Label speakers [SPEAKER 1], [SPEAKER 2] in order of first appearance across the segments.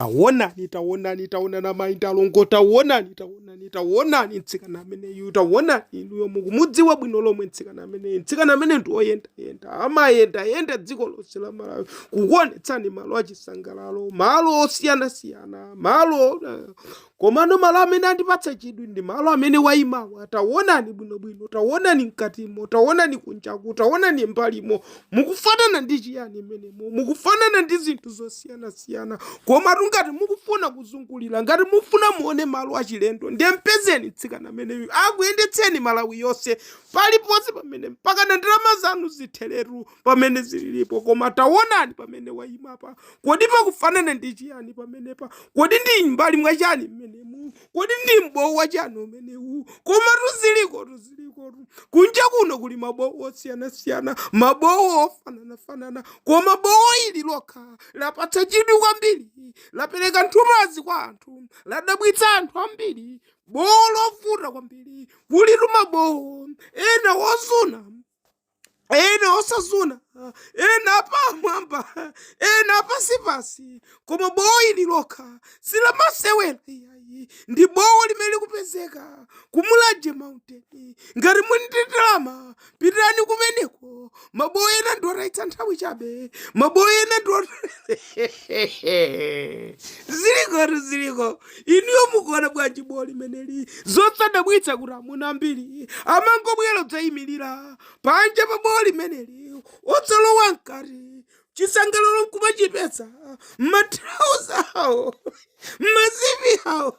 [SPEAKER 1] Taonani, taonani, taonani amayi ndi alongo, taonani, taonani, taonani mtsikana ameneyu, taonani inuyo mukumudziwa bwino lomwe mtsikana ameneyu. Mtsikana amene ndi woyendayenda, amayendayenda dziko lonse la Malawi kukuonetsani malo achisangalalo, malo osiyanasiyana, malo eh, Komano malo amene andipatsa chidwi ndi malo amene waimawa. Taonani bwinobwino, taonani mkatimo, taonani kunjaku, taonani m'mbalimo. Mukufanana ndi chiyani mmenemo? Mukufanana ndi zinthu zosiyanasiyana. Komatu ngati mukufuna kuzungulira, ngati mukufuna muone malo achilendo, ndiye m'pezeni mtsikana ameneyu akuyendetseni Malawi yonse, paliponse pamene, mpakana ndalama zanu zitheretu pamene zililipo. Koma taonani pamene waimapa. Kodi pakufanana ndi chiyani pamenepa? Kodi ndi m'mbali mwa chani mmenemu? Kodi ndi m'bowo wa chani umenewu? Komatu zilikotu, zilikotu. Kunja kuno kuli mabowo osiyanasiyana, mabowo ofananafanana, koma bowo ili lokha lapatsa chidwi kwambiri, lapereka nthumazi kwa anthu, ladabwitsa anthu ambiri. Bowo lovuta kwambiri, kulitu mabowo ena ozuna. ena osazuna ena apamwamba ena apansipansi koma bowo ili lokha silamasewera iyayi ndi bowo limene likupezeka ku mulanje mountain ngati muli ndi ndalama pitirani kumeneko mabowo ena ndi otayitsa nthawi chabe mabowo ena ndi zilikotu ziliko inuyo mukuona bwanji bowo limeneli zosadabwitsa kuti amuna ambiri amangobwera kudzaimirira panja pa bowo limeneli osalowa mkati chisangalalo nkumachipeza m'matrauza awo m'mazipi awo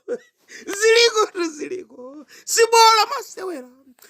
[SPEAKER 1] zilikotu ziliko si bowo lamasewera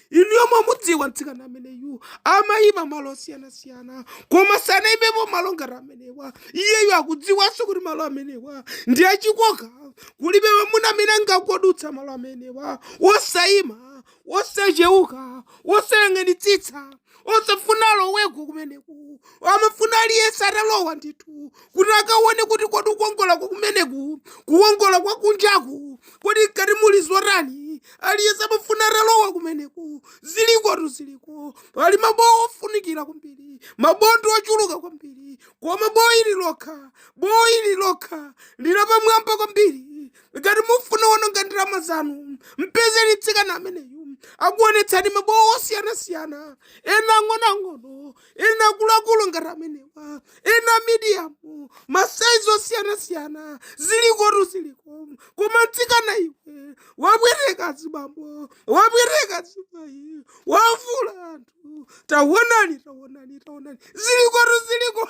[SPEAKER 1] inuyo mwamudziwa mtsikana ameneyu amayima malo osiyanasiyana koma sanayimepo malo ngati amenewa iyeyu akudziwanso kuti malo amenewa ndi achikoka kulibe mamuna amene angakodutsa malo amenewa wosayima wosachewuka wosayang'anitsitsa osafuna aloweko kumeneku amafuna aliyense atalowa ndithu kuti akaone kuti kodi kukongola kwa kumeneku kukongola kwa kunjaku kodi mkati muli zotani aliyense amafuna atalowa kumeneku zilikotu ziliko pali mabowo ofunikira kwambiri mabondo ochuluka kwambiri koma bowo ili lokha bowo ili lokha ndi lapamwamba kwambiri ngati mufuna kuononga ndalama zanu mpezeni mtsikana ameneyu akuonetsani mabowo osiyanasiyana ena ang'onoang'ono ena akuluakulu ngati amenewa ena medium masaizi osiyanasiyana zilikotu ziliko koma mtsikana iwe wapweteka azibambo wapweteka azimayi wavulaza anthu tawonani tawonani tawonani zilikotu ziliko